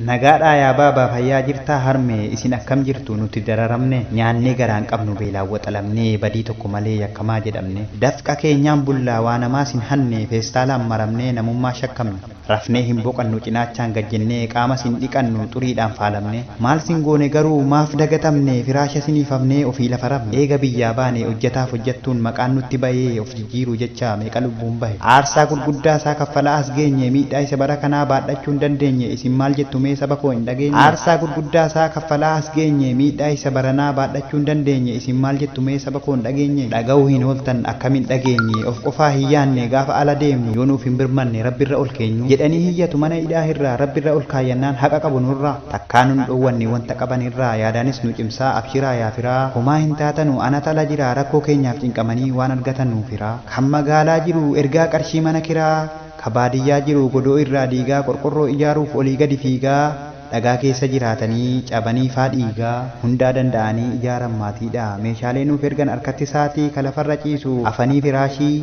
Nagaadhaa yaa baaba fayyaa jirtaa harmee isin akkam jirtu nuti dararamne nyaannee garaan qabnu beelaan waxalamnee badii tokko malee yakkamaa jedhamne dafqa keenyaan bullaa waa namaas hin hanne feestaalaan maramnee namummaa shakkamne rafnee hin boqannu cinaachaan gad jennee qaamas hin dhiqannu xuriidhaan faalamnee maal sin goone garuu maaf dagatamne firaasha siniif hafnee ofii lafa rafne eega biyyaa baane hojjataaf hojjattuun maqaan nutti bayee of jiiru jechaa meeqa lubbuun bahe aarsaa gurguddaa isaa kaffalaa as geenye miidhaa isa bara kanaa baadhachuu hin dandeenye isin maal jettu mee saba koo hin dhageenye aarsaa gurguddaa isaa kaffalaa as geenye miidhaa isa baranaa baadhachuu hin dandeenye isin maal jettu mee saba koo hin dhageenye dhagahuu hin ooltan akkam hin dhageenye of qofaa hin yaanne gaafa ala deemnu yoo nuuf hin birmanne rabbirra ol keenyu jedhanii hiyyatu mana hidhaa hirraa rabbirra ol kaayyannaan haqa qabu nurraa. takkaa nun dhoowwanne wanta qaban irraa yaadaanis nu cimsaa abshiraa yaa firaa homaa hin taatanu anat ala jiraa rakkoo keenyaaf cinqamanii waan argatan nuuf hiraa kan magaalaa jiru ergaa qarshii mana kiraa ka baadiyyaa jiru godoo irraa diigaa qorqorroo ijaaruuf olii gadi fiigaa dhagaa keessa jiraatanii cabanii faa dhiigaa hundaa danda'anii ijaaran maatiidha meeshaalee nuuf ergan harkatti saatii ka lafarra ciisu afanii firaashii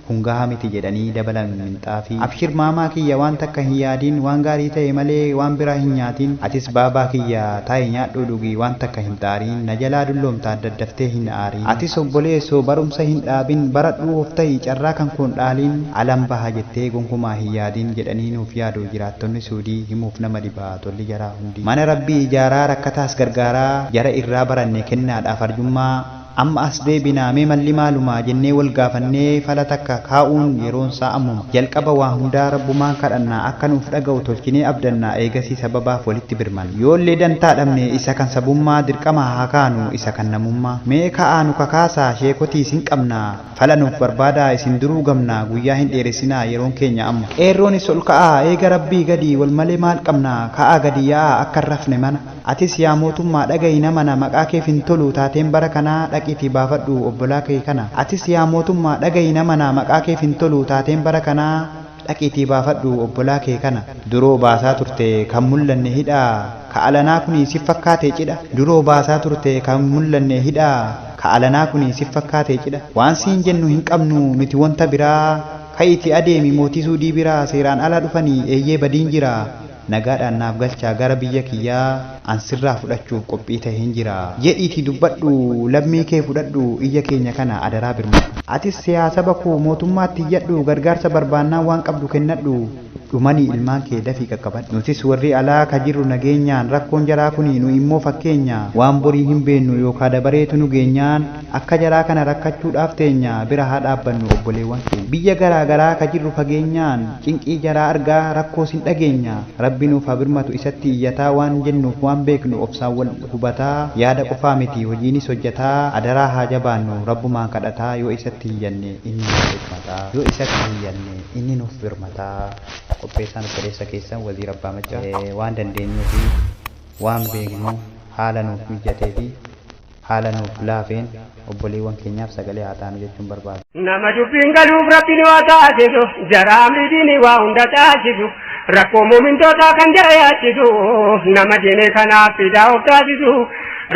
Kun gahaa miti jedhanii dabalan minxaafii. Abshir maamaa kiyya waan takka hin yaadiin waan gaarii ta'e malee waan biraa hin nyaatiin atis baabaa kiyya taa'i nyaadhuu dhugi waan takka hin xaariin na jalaa dulloomtaa daddaftee hin aariin atis obboleesso barumsa hin dhaabin baradhuu of ta'i carraa kan koon dhaaliin alan baha jettee gonkumaa hin yaadiin jedhanii nuuf yaadu jiraattonni suudii himuuf nama dhiba tolli jaraa hundi mana rabbii ijaaraa rakkataas gargaaraa jara irraa baranne kennaadhaaf arjummaa Amma as deebinaa mee malli maalumaa jennee wal gaafannee fala takka kaa'uun yeroon isaa ammuma. Jalqaba waa hundaa Rabbumaan kadhannaa akka nuuf dhaga'u tolchinee abdannaa eegasii sababaaf walitti birmanna. Yoollee dantaa dhabne isa kan sabummaa dirqama haa kaanu isa kan namummaa. Mee ka'aa nu kakaasaa sheekotii isin qabna fala nuuf barbaadaa isin duruu gamna guyyaa hin dheeressinaa yeroon keenya amma. Qeerroonis ol ka'aa eega Rabbii gadi wal malee maal qabna ka'aa gadi ya'aa akka hin rafne mana. Atis yaa mootummaa dhaga'i nama na maqaa keef hin toluu taateen bara kanaa dhaqiitii baafadhuu obbolaa kee kana Atis yaa mootummaa dhaga'i nama na maqaa keef hin toluu taateen bara kanaa dhaqiitii baafadhuu obbolaa kee kana. Duroo baasaa turte kan mullanne hidha ka alanaa kuni sif fakkaatee cidha Duroo baasaa turte kan mullanne hidha ka alanaa kuni sif fakkaatee cidha Waan siin jennu hin qabnu nuti wonta biraa Ka'iitii adeemi mootii suudii bira Seeraan ala dhufani eeyyee badiin jira Nagaadhaan naaf galchaa gara biyya kiyyaa an sirraa fudhachuuf qophii taheen jira. Jedhiitii dubbadhu lammii kee fudhadhu iyya keenya kana adaraa birmadhu. Atis siyaa saba koo mootummaatti iyyadhu gargaarsa barbaannaan waan qabdu kennadhu dhumanii ilmaan kee dafii qaqqabadhu. Nutis warri alaa ka jirru nageenyaan rakkoon jaraa kuni nu immoo fakkeenya waan borii hin beennu yookaa dabareetu nu geenyaan Akka jaraa kana rakkachuudhaaf teenya bira haa dhaabbannu obboleewwan keenya. Biyya garaa garaa ka jirru fageenyaan cinqii jaraa argaa rakkoos hin dhageenya. Rabbi nuuf haa birmatu isatti iyyataa waan jennuuf waan beeknu obsaan wal hubataa yaada qofaa miti hojiinis hojjataa adaraa haa jabaannu rabbumaan kadhataa yoo isatti iyyanne inni nuuf birmataa yoo isatti iyyanne inni nuuf birmataa. Qopheessaan obboleessa keessan Waziir Abbaa Maccaa waan dandeenyuu fi waan beeknu haala nuuf mijjatee fi. Haala nuuf laafeen obboleewwan keenyaaf sagalee haa taanu jechuun barbaada. Nama dubbiin galuuf Rabbi nu haa taasisu. Jara amri diinii waa hunda taasisu. Rakkoo muumintootaa kan jara yaachisu. Nama diinii kanaaf fidaa of taasisu.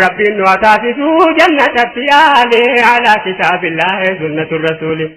Rabbiin nu haa taasisu jannatatti yaale. Alaa kitaabillaahi sunnatu rasuuli.